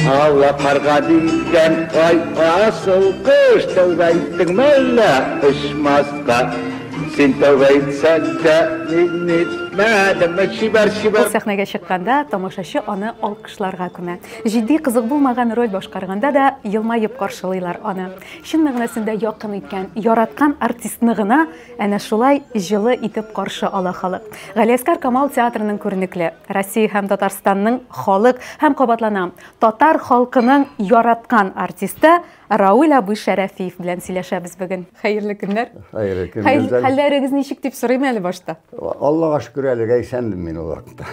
Аллап марга дигән ай асыл кыш тәүбә иттең мәллә очмаска син тәүбә итсәң дә мин итмәдем чибәр чибәр сәхнәгә чыкканда тамашачы аны алкышларга күмә җитди кызык булмаган роль башкарганда да елмаеп каршылыйлар аны чын мәгънәсендә якын иткән яраткан артистны гына Әнә шулай җылы итеп каршы ала халык. Галиәскар Камал театрының күренекле, Россия һәм Татарстанның халык һәм кабатланам, татар халкының яраткан артисты Рауль абый Шәрәфиев белән сөйләшәбез бүген. Хәерле көннәр. Хәерле көн. Хәй, хәлләрегез ничек дип сорыйм әле башта. Аллага шөкер әлегә исәнмен мин ул вакытта.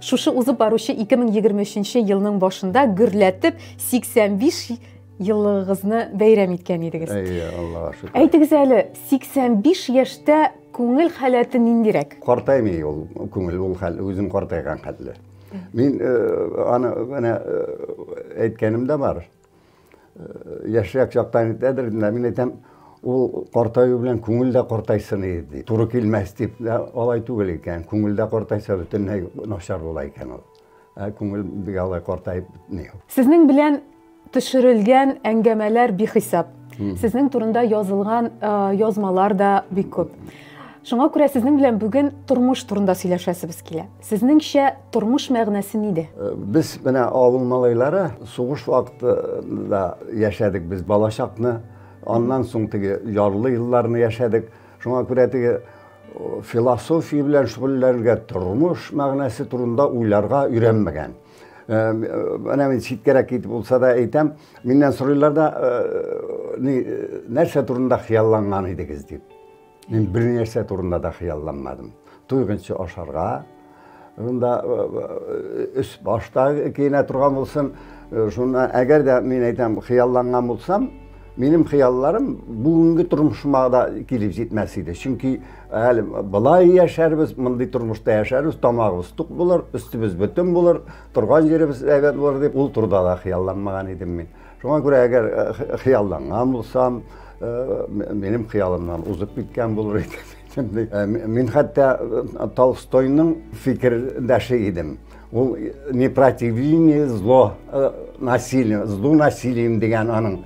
Шушы узып баручы 2023 елның башында гөрләтеп 85 еллыгыгызны бәйрәм иткән идегез. Әйе, Аллага шөкер. Әйтегез әле, 85 яшьтә күңел халәте ниндирәк? Картаймый ул күңел, ул хәл үзем картайган хәтле. Мин э, аны менә э, әйткәнем дә бар. Э, яшьрәк чактан әйтәдер, мин әйтәм, ул картаю белән күңел дә картайсын иде ди. Туры килмәс дип, алай түгел икән. Күңел дә картайса бөтенләй начар була икән ул. Ә күңел бик алай картаеп бетми. Сезнең белән төшерелгән әңгәмәләр бихисап. Сезнең турында язылган язмалар да бик күп. Шуңа күрә сезнең белән бүген тормыш турында сөйләшәсебез килә. Сезнеңчә тормыш мәгънәсе нидә? Э, без менә авыл малайлары сугыш вакытында яшәдек без балачакны, аннан соң теге ярлы елларны яшәдек. Шуңа күрә теге философия белән шөгыльләнергә, тормыш мәгънәсе турында уйларга өйрәнмәгән. Менә мин читкәрәк китеп булса да әйтәм, миннән сорыйлар да, нәрсә турында хыялланган идегез дип. Мин бернәрсә турында да хыялланмадым. Туйганчы ашарга, Шунда өс башта киенә торган булсын. Шуннан әгәр дә мин әйтәм, хыялланган булсам, минем хыялларым бүгенге тормышыма да килеп җитмәс иде. Чөнки әле былай яшәрбез, мондый тормышта яшәрбез, тамагыбыз тук булыр, өстебез бөтен булыр, торган җиребез әйбәт булыр дип, ул турыда да хыялланмаган идем мин. Шуңа күрә әгәр хыялланган булсам, минем хыялымнан узып киткән булыр иде. Чынлый. Э, мин хәтта э, Толстойның фикердәше идем. Ул э, не противление зло насилием, злу насилием дигән аның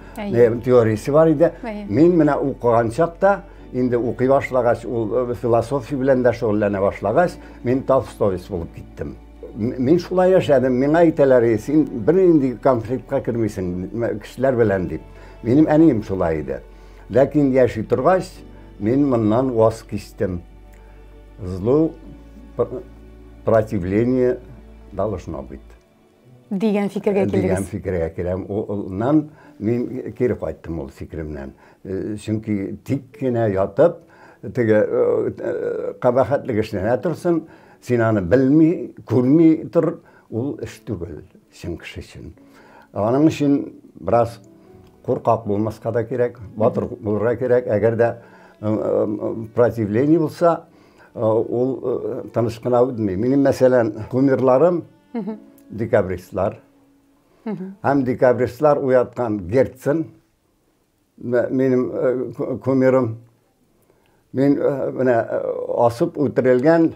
теориясе бар иде. Мин менә укыган чакта инде укый башлагач, ул философия белән дә шөгыльләнә башлагач, мин Толстой булып киттем. Мин шулай яшәдем, миңа әйтәләр, син бер инде конфликтка кермисең кешеләр белән дип. Минем әнием шулай иде. Ләкин яши торгач, мин моннан ваз кистем. Злу противление должно быть. Дигән фикергә килдегез. Дигән фикергә киләм. Улнан мин кире кайттым ул фикеремнән. Э, чөнки тик кенә ятып, теге э, э, кабахатлык эшләнә торсын, син аны белми, күрми тор, Ул эш түгел, чын кеше өчен. Аның өчен бераз куркак булмаска да кирәк, батыр булырга кирәк. Әгәр дә противление булса, ул тыныч кына үтми. Минем, мәсәлән, кумирларым декабристлар. Һәм декабристлар уяткан Герцен, минем кумирым. Мин менә асып үтерелгән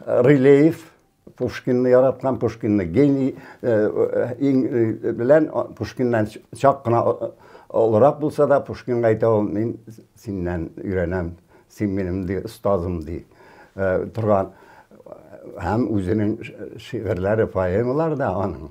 Рылеев, Пушкинны яраткан, Пушкинны гений белән Пушкиннан чак кына олырак булса да, Пушкинга әйтә ул, мин синнән өйрәнәм, син минем ди, остазым ди торган һәм үзенең шигырьләре, поэмалары да аның.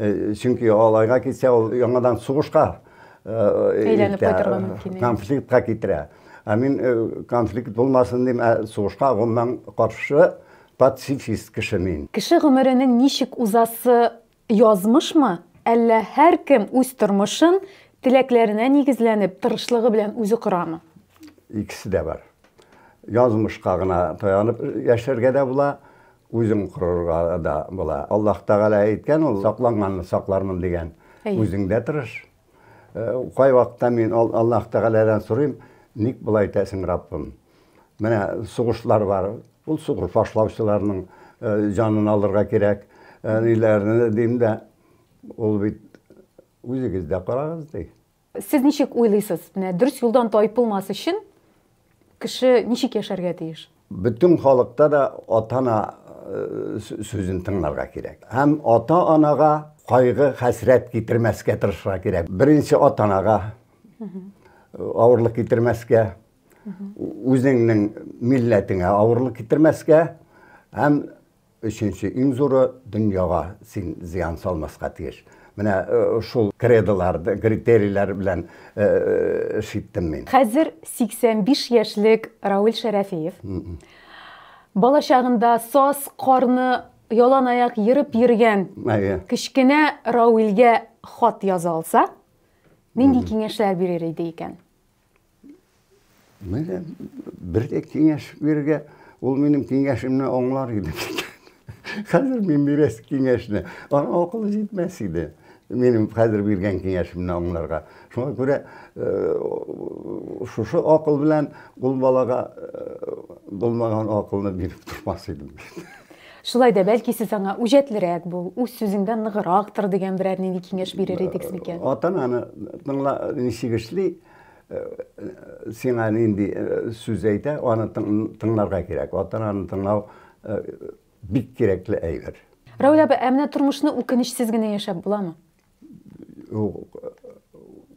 Э, чөнки алайга китсә ул яңадан сугышка э, әйләнеп кайтырга мөмкин конфликтка китерә ә мин э, конфликт булмасын дим ә сугышка гомумән каршы пацифист кеше мин кеше гомеренең ничек узасы язмышмы әллә һәркем үз тормышын теләкләренә нигезләнеп тырышлыгы белән үзе корамы икесе дә бар язмышка гына таянып яшәргә дә була Үзең корырга да була. Аллаһ Тәгалә әйткән ул, сакланганны саклармын дигән. Үзең дә тырыш. Кайвакытта мин Аллаһ Тәгаләдән сорыйм, ник болай итәсең, Раббым? Менә сугышлар бар, ул сугыш башлаучыларның җанын алырга кирәк, әниләрне дим дә, ул бит, үзегез дә карагыз, ди. Сез ничек уйлыйсыз, менә дөрес юлдан тайпылмас өчен кеше ничек яшәргә тиеш? Бөтен халыкта да ата-ана сүзен тыңларга кирәк. Һәм ата-анага кайгы, хәсрәт китермәскә тырышырга кирәк. Беренче ата-анага авырлык китермәскә, үзеңнең милләтеңә авырлык китермәскә һәм Өченче иң зуры, дөньяга син зыян салмаска тиеш. Менә шул кредолар, критерийлар белән эш иттем мин. Хәзер 85 яшьлек Рауль Шәрәфиев балачагында саз, карны ялан аяк ерып йөргән кечкенә Раульгә хат яза алса, нинди киңәшләр бирер иде икән? Менә бер дә киңәш бирергә, ул минем киңәшемне аңлар иде. Хәзер мин бирәс киңәшне. Ана акылы җитмәс иде. Минем хәзер биргән киңәшемне аңларга. Шуңа күрә э, шушы акыл белән ул балага э, булмаган акылны биреп тормас идем. Шулай да, бәлки сез аңа үҗәтлерәк бул, үз сүзеңдә ныгырак тор дигән берәр нинди киңәш бирер идегез микән? Атананы тыңла, ничек эшли, сиңа нинди сүз әйтә, аны тыңларга кирәк. Атананы тыңлау бик кирәкле әйбер. Равил абый, ә менә тормышны үкенечсез генә яшәп буламы?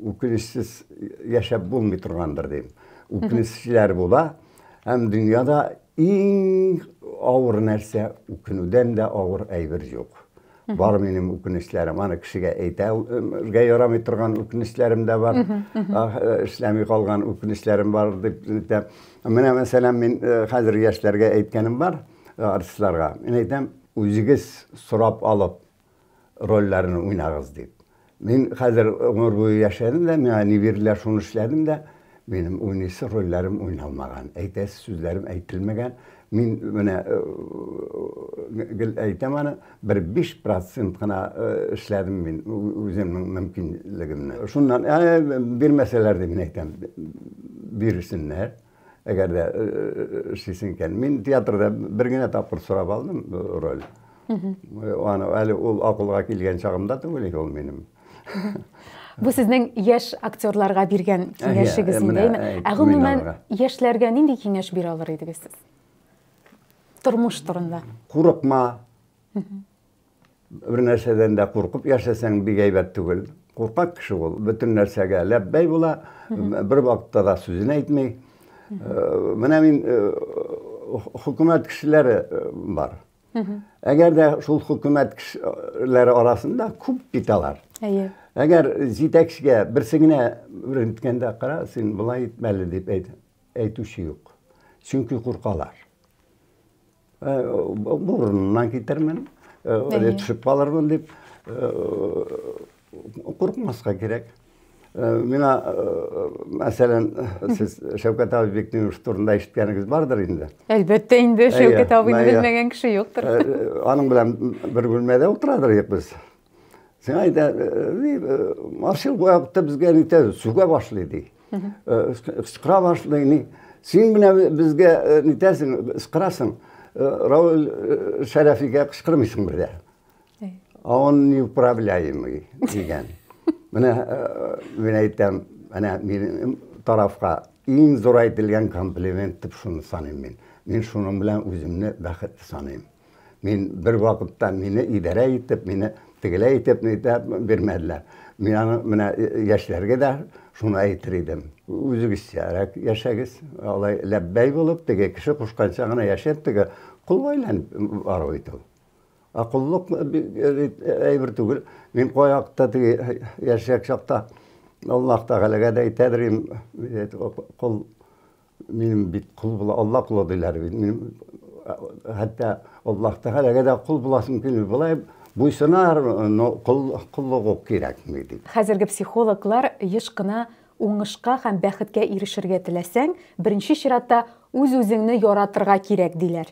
үкенечсез яшәп булмый торгандыр дим. Үкенечләр була. Һәм дөньяда иң авыр нәрсә, үкенүдән дә авыр әйбер юк. Бар минем үкенечләрем, аны кешегә әйтергә ярамый торган үкенечләрем дә бар. Эшләми калган үкенечләрем бар дип әйтә. Менә мәсәлән, мин хәзер яшьләргә әйткәнем бар, артистларга. Мин әйтәм, үзегез сорап алып, рольләрен уйнагыз дип. Мин хәзер гомер буе яшәдем дә, миңа ни бирделәр, шуны эшләдем дә, минем уйныйсы рольләрем уйналмаган, әйтәсе сүзләрем әйтелмәгән. Мин менә э, гел әйтәм аны, бер 5 процент кына э, эшләдем мин үземнең мөмкинлегемне. Шуннан, ә, бирмәсәләр дип мин әйтәм, бирсеннәр. Әгәр дә эшлисең икән. Мин театрда бер генә тапкыр сорап алдым роль. Аны әле ул акылга килгән чагымда түгел ул минем. Бу сезнең яшь актерларга биргән киңәшегез инде. Ә гомумән яшьләргә нинди киңәш бирә алыр идегез сез? Тормыш турында. Курыкма. Бер нәрсәдән дә куркып яшәсәң бик әйбәт түгел. Куркак кеше ул, бөтен нәрсәгә ләббәй була, бер вакытта да сүзен әйтми. Э, менә мин э, хөкүмәт кешеләре э, бар. Әгәр дә шул хөкүмәт кешеләре арасында күп бит алар. Әйе. Әгәр җитәкчегә берсе генә ренткенда кара, син болай итмәле дип әйтүче юк. Чөнки куркалар. Урынынан китермен, әле төшеп калырмын дип куркмаска кирәк. Мина, мәсәлән, сез Шәүкәт абый Бектимов турында ишеткәнегез бардыр инде. Әлбәттә инде, Шәүкәт абыйны белмәгән кеше юктыр. Аның белән бер бүлмәдә утырадыр идек без. Сиңа әйтә, ни, машин вакытта безгә нитә, сүгә башлый ди. Сыкра башлый, ни. Син менә безгә нитәсең, сыкрасың. Рауль Шәрәфигә кычкырмыйсың бер дә. А он неуправляемый дигән. Менә мин әйтәм, менә минем тарафка иң зур әйтелгән комплимент дип шуны саныйм мин. Мин шуның белән үземне бәхетле саныйм. Мин бер вакытта мине идарә итеп, мине тегеләй итеп нитә бирмәделәр. Мин аны менә яшьләргә дә шуны әйтер идем. Үзегезчәрәк яшәгез. Алай ләббәй булып, теге кеше кушканча гына яшәп, теге кол айланып бару ит ул. Ә коллык әйбер түгел. Мин каякта теге яшәк чакта Аллаһ Тәгаләгә дә әйтәдер идем, кол Минем бит кул була, Алла кулы диләр бит. Мин хәтта Аллаһ Тәгаләгә дә кул буласым килми. Болай буйсынар, но кул куллык ук кирәкми дип. Хәзерге психологлар еш кына уңышка һәм бәхеткә ирешергә теләсәң, беренче чиратта үз-үзеңне яратырга кирәк, диләр.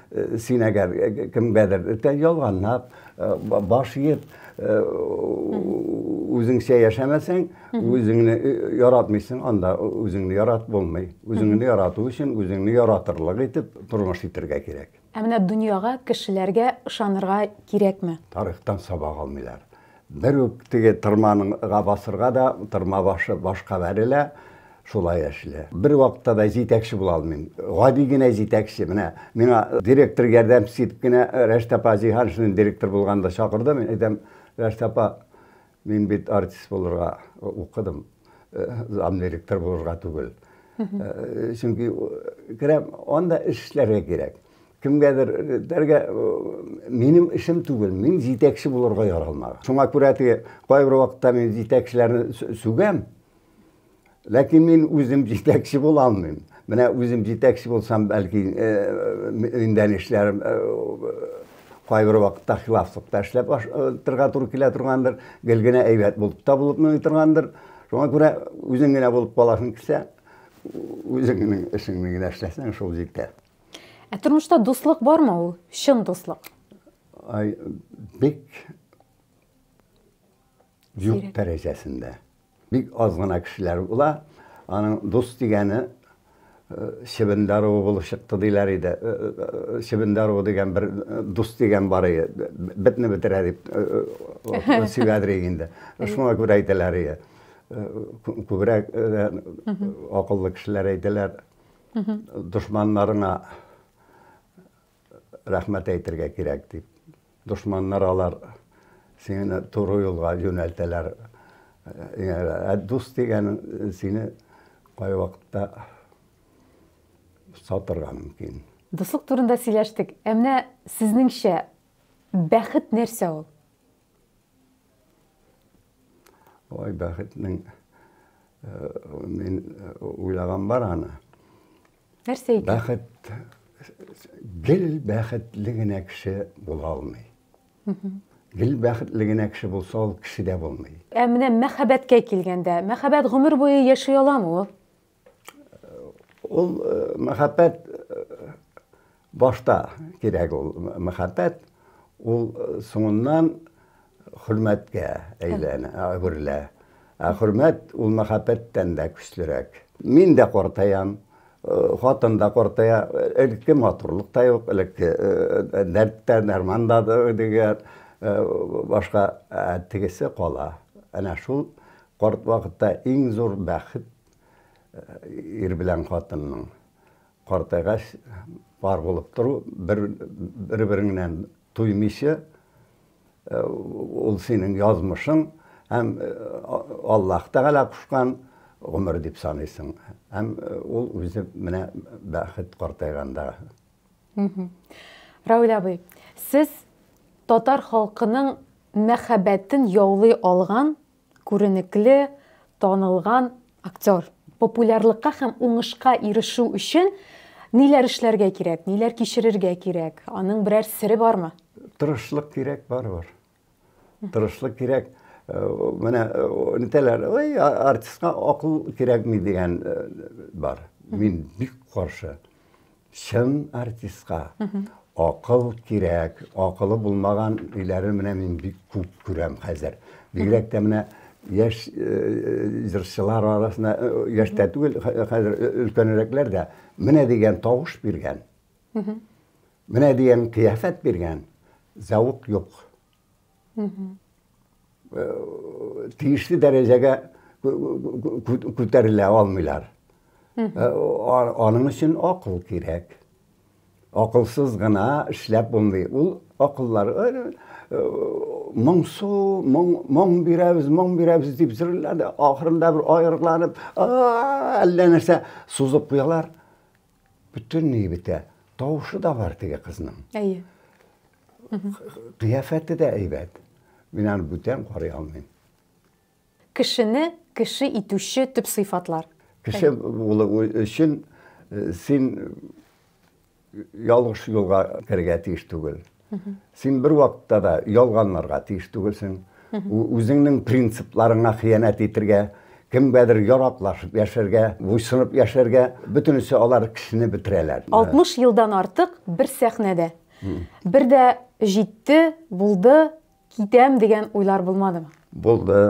Син әгәр кемгәдер ялганлап, баш иеп, үзеңчә яшәмәсәң, үзеңне яратмыйсың, анда үзеңне ярат булмый. Үзеңне ярату өчен үзеңне яратырлык итеп тормыш итәргә кирәк. Ә менә дөньяга, кешеләргә ышанырга кирәкме? Тарихтан сабак алмыйлар. Бер үк теге тырманыңга басырга да тырма башы башка бәрелә, шулай эшли. Бер вакытта да җитәкче була алмыйм. Гади генә җитәкче. Менә миңа директор ярдәмчесе итеп кенә Рәшит апа Җиһаншин директор булганда чакырды. Мин әйтәм, Рәшит апа, мин бит артист булырга укыдым, замдиректор булырга түгел. Чөнки керәм, анда эш эшләргә кирәк. кемгәдер дәргә минем эшем түгел мин җитәкче булырга яралмаган шуңа күрә теге кайбер вакытта мин җитәкчеләрне сүгәм ләкин мин үзем җитәкче була алмыйм менә үзем җитәкче булсам бәлки миндән эшләр кайбер вакытта хилафлыкта эшләп торырга туры килә торгандыр гел генә әйбәт булып та булып торгандыр шуңа күрә үзең генә булып каласың килсә үзеңнең эшеңне генә эшләсәң шул җитә Ә тормышта дуслык бармы ул? Чын дуслык. Ай, бик юк дәрәҗәсендә. Бик аз гына кешеләр була. Аның дус дигәне чебен даруы булып чыкты диләр иде. Чебен даруы дигән бер дус дигән бар иде. Бетне бетерә дип сөйләдер инде. Шуңа күрә әйтәләр иде. Күбрәк акыллы кешеләр әйтәләр. Дошманнарыңа рәхмәт әйтергә кирәк дип. Дошманнар алар сине туры юлга юнәлтәләр. Ә дус дигән сине кайвакытта сатырга мөмкин. Дуслык турында сөйләштек. Ә менә сезнеңчә бәхет нәрсә ул? Ой, бәхетнең э, мин э, уйлаган бар аны. Нәрсә икән? Бәхет гел бәхетле генә кеше була алмый. Гел бәхетле генә кеше булса, ул кеше дә булмый. Ә менә мәхәббәткә килгәндә, мәхәббәт гомер буе яши аламы ул? Ул мәхәббәт башта кирәк ул мәхәббәт, ул соңыннан хөрмәткә әйләнә, әверелә. Ә хөрмәт ул мәхәббәттән дә көчлерәк. Мин дә картаям, хатын да картая, элекке матурлык та юк, элекке дәрт тә, дәрман да дигәр, башка тегесе кала. Әнә шул карт вакытта иң зур бәхет ир белән хатынның картайгач бар булып тору бер бер береңнән туймыйча э, ул синең язмышың һәм э, Аллаһ Тәгалә кушкан гомер дип саныйсың һәм э, ул үзе менә бәхет картайганда Равил абый, сез татар халкының мәхәббәтен яулый алган күренекле, танылган актер. Популярлыкка һәм уңышка ирешү өчен ниләр эшләргә кирәк, ниләр кичерергә кирәк? Аның берәр сере бармы? Тырышлык кирәк, барыбер. Тырышлык кирәк. Э, менә э, нитәләр, ой, артистка акыл кирәкми дигән э, бар. Мин бик каршы. чын артистка акыл кирәк. Акылы булмаган өйләре менә мин бик күп күрәм хәзер. Бигрәк тә менә яшь э, җырчылар арасында, э, яшь тә түгел, хәзер өлкәнрәкләр дә менә дигән тавыш биргән. Менә дигән кыяфәт биргән. Зәвык юк. тиешле дәрәҗәгә күтәрелә алмыйлар. Аның өчен акыл кирәк. Акылсыз гына эшләп булмый. Ул акыллар моңсу, моң бирәбез, моң бирәбез дип җырлады. Ахырында бер аерылып, әллә нәрсә сузып куялар. Бөтенләй бетә. Тавышы да бар теге кызның. Әйе. Кыяфәте дә әйбәт. Мин аны бүтән карый алмыйм. Кешене кеше итүче төп сыйфатлар. Кеше булу өчен э, син ялгыш юлга керергә тиеш түгел. Син бер вакытта да ялганларга тиеш түгелсең. Үзеңнең принципларыңа хыянәт итергә, кемгәдер яраклашып яшәргә, буйсынып яшәргә, бөтенесе алар кешене бетерәләр. 60 елдан артык бер сәхнәдә. Бер дә җитте, булды, Китәм дигән уйлар булмадымы? Булды.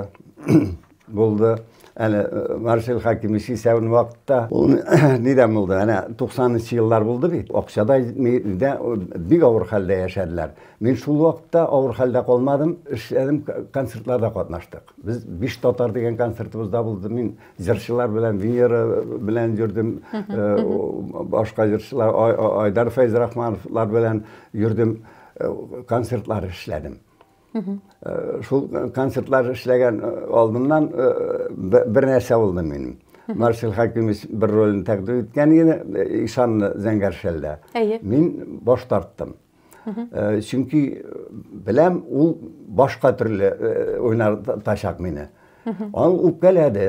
Булды. Әле э, Маршал Хакимович исәвен вакытта ул нидән булды? Әнә 90нчы еллар булды бит. Акчада дә бик авыр хәлдә яшәделәр. Мин шул вакытта авыр хәлдә калмадым, эшләдем, концертларда катнаштык. Без биш татар дигән концертыбызда булды. Мин җырчылар белән Венера белән йөрдем, э, башка җырчылар Айдар Фәйзрахмановлар белән йөрдем. концертлар эшләдем шул концертлар эшләгән алдыннан бер нәрсә булды минем марсель хәкимович бер ролен тәкъдим иткән иде ишанны зәңгәршәлдә әйе мин баш тарттым чөнки беләм ул башка төрле уйнатачак мине аны үпкәләде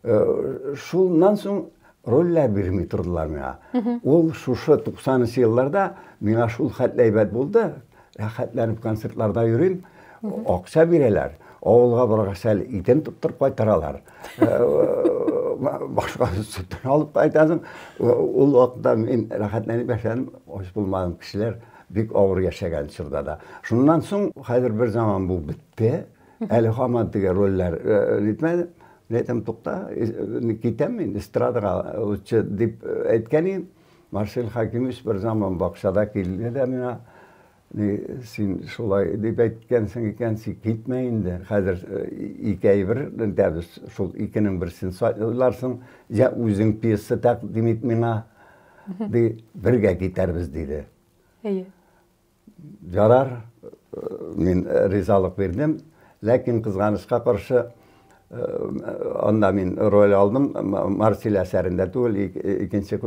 Э, шуннан соң рольләр бирми тордылар миңа ул шушы туксанынчы елларда миңа шул хәтле әйбәт булды рәхәтләнеп концертларда йөрим акча бирәләр авылга баргач әле итен тоттырып кайтаралар э, э, башка сөтен алып кайтасың ул вакытта мин рәхәтләнеп яшәдем ач булмадым кешеләр бик авыр яшәгән чорда да шуннан соң хәзер бер заман бу бетте Әле хаман теге рольләр җитмәде. Мин әйтәм, тукта, китәм мин эстрадага лучше дип әйткән идем. Марсель Хакимович бер заман бакчада килде дә миңа, ни, син шулай дип әйткәнсең икән, син китмә инде. Хәзер ике әйбер итәбез, шул икенең берсен сайларсың, я үзең пьеса тәкъдим ит миңа, ди, бергә китәрбез, диде. Әйе. Ярар, мин ризалык бирдем, ләкин кызганычка каршы, анда мин роль алдым, Марсиль әсәрендә түгел, икенче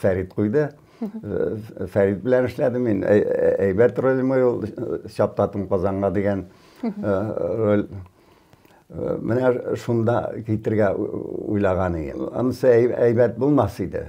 Фәрит куйды. Фәрит белән эшләдем мин, әйбәт роль мой ул, чаптатым Казанга дигән роль. Менә шунда китергә уйлаган идем. Анысы әйбәт булмас иде.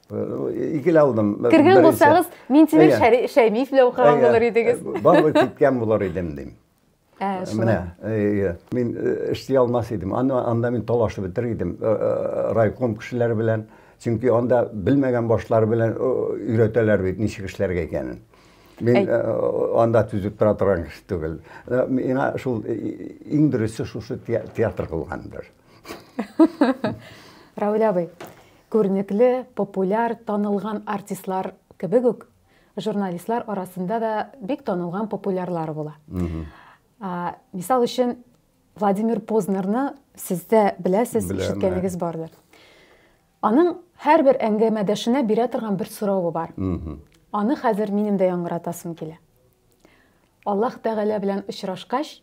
икеле алдым. Кергән булсагыз, Минтимер Шәймиев белән укыган булыр идегез. Барлык киткән булыр идем, дим. Менә, мин эшли алмас идем. Анда мин талашып бетер идем райком кешеләре белән. Чөнки анда белмәгән башлар белән өйрәтәләр бит, ничек эшләргә икәнен. Мин анда түзеп тора торган кеше түгел. Миңа шул иң дөресе шушы театр кылгандыр. Равил абый, Күренекле, популяр, танылган артистлар кебек үк, журналистлар арасында да бик танылган популярлар була. Мисал өчен, Владимир Познерны сез дә беләсез, ишеткәнегез бардыр. Аның һәрбер әңгәмәдәшенә бирә торган бер соравы бар. Аны хәзер минем дә яңгыратасым килә. Аллаһ Тәгалә белән очрашкач,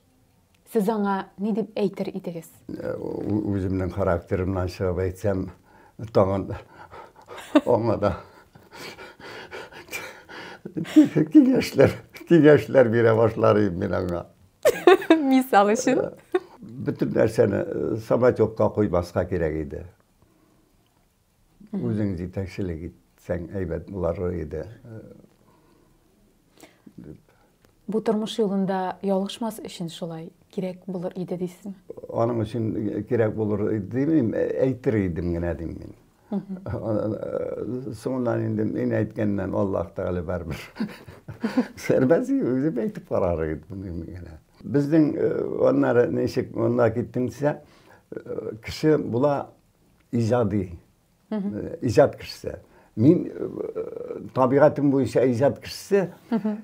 Сез аңа ни дип әйтер идегез? Үземнең характерымнан чыгып әйтсәм, тагын аңа да киңәшләр, киңәшләр бирә башлар идем мин аңа. Мисал өчен? Бөтен нәрсәне самотекка куймаска кирәк иде. Үзең җитәкчелек итсәң әйбәт булар иде. Бу тормыш юлында ялгышмас өчен шулай кирәк булыр иде дисең? Аның өчен кирәк булыр димим, әйтер идем генә дим мин. Соңыннан инде мин әйткәннән Аллаһ Тәгалә барыбер. Сәрбәз үзе әйтеп карар иде моны генә. Безнең аннары ничек монда киттеңсә, кеше була иҗади иҗат кешесе мин табигатем буенча иҗат кешесе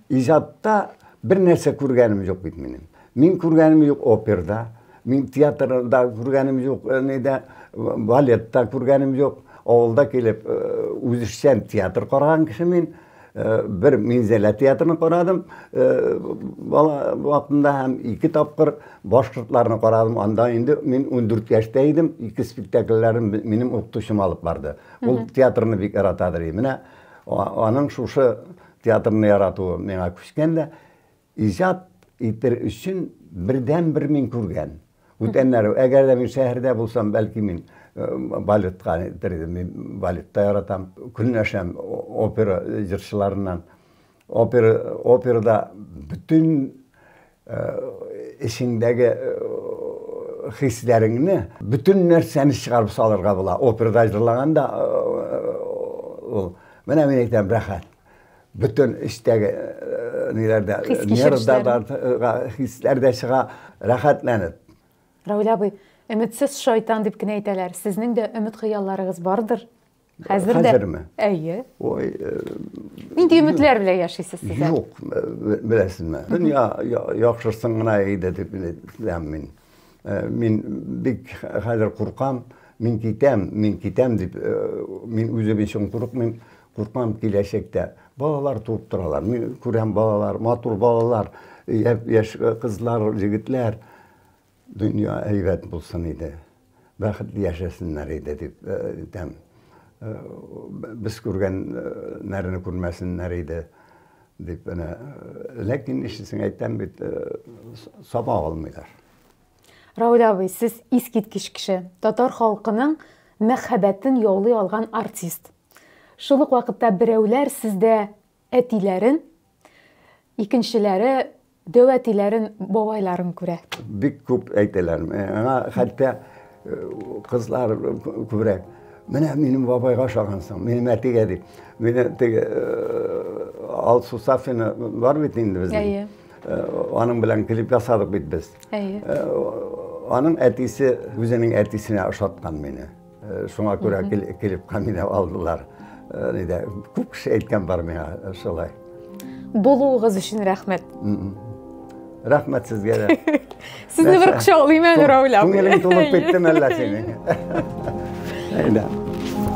иҗатта бер нәрсә күргәнем юк бит минем мин күргәнем юк оперда мин театрда күргәнем юк нидә балетта күргәнем юк авылда килеп үзешчән театр караган кеше мин Э, бер минзәлә театрын карадым э, бала вакытында һәм ике тапкыр башкортларны карадым анда инде мин ундүрт яшьтә идем ике спектакльләрен минем укытучым алып барды ул театрны бик ярата ди менә аның шушы театрны яратуы миңа күчкән дә Иҗат итер өчен бердәнбер мин күргән. Бүтәннәр, әгәр дә мин шәһәрдә булсам, бәлки мин балетка итер идем. Мин балет та яратам. Көнләшәм опера җырчыларыннан. Опера, операда бөтен эчеңдәге хисләреңне, бөтен нәрсәне чыгарып салырга була. Операда җырлаганда ул, менә мин әйтәм, рәхәт. Бөтен эчтәге ниләрдә, нервда хисләр дә чыга, рәхәтләнеп. Равил абый, өметсез шайтан дип кенә әйтәләр. Сезнең дә өмет-хыялларыгыз бардыр? Хәзер дә. Хәзерме? Әйе. Ой. Нинди өметләр белән яшисез сез? Юк, беләсезме? Дөнья яхшысын гына әйдә дип беләм мин. Мин бик хәзер куркам, мин китәм, мин китәм дип, мин үзем өчен курыкмыйм, Куркам, киләчәктә балалар туып торалар. Мин күрәм балалар, матур балалар, яшь кызлар, җегетләр. Дөнья әйбәт булсын иде. Бәхетле яшәсеннәр иде дип әйтәм. Без күргәннәрне күрмәсеннәр иде дип әнә. Ләкин нишлисең, әйтәм бит, саба алмыйлар. Равил абый, сез искиткеч кеше. Татар халкының мәхәббәтен яулый алган артист. Шул ук вакытта берәүләр сездә әтиләрен, икенчеләре дәүәтиләрен, бабайларын күрә. Бик күп әйтәләр. Аңа хәтта кызлар күрә. Менә минем бабайга ошагансың, минем әтигә дип. Мине теге Ал Сусафина бар бит инде безнең. Әйе. Аның белән клип ясадык бит без. Әйе. Аның әтисе үзенең әтисенә ошаткан мине. Э, шуңа күрә клипка мине алдылар э, нидә күп кеше әйткән бар миңа э, шулай булуыгыз өчен рәхмәт рәхмәт сезгә дә сезне бер кочаклыйм әле рәүлә апа күңелең тулып киттеме әллә синең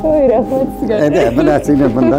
ой рәхмәт сезгә әйдә менә сине монда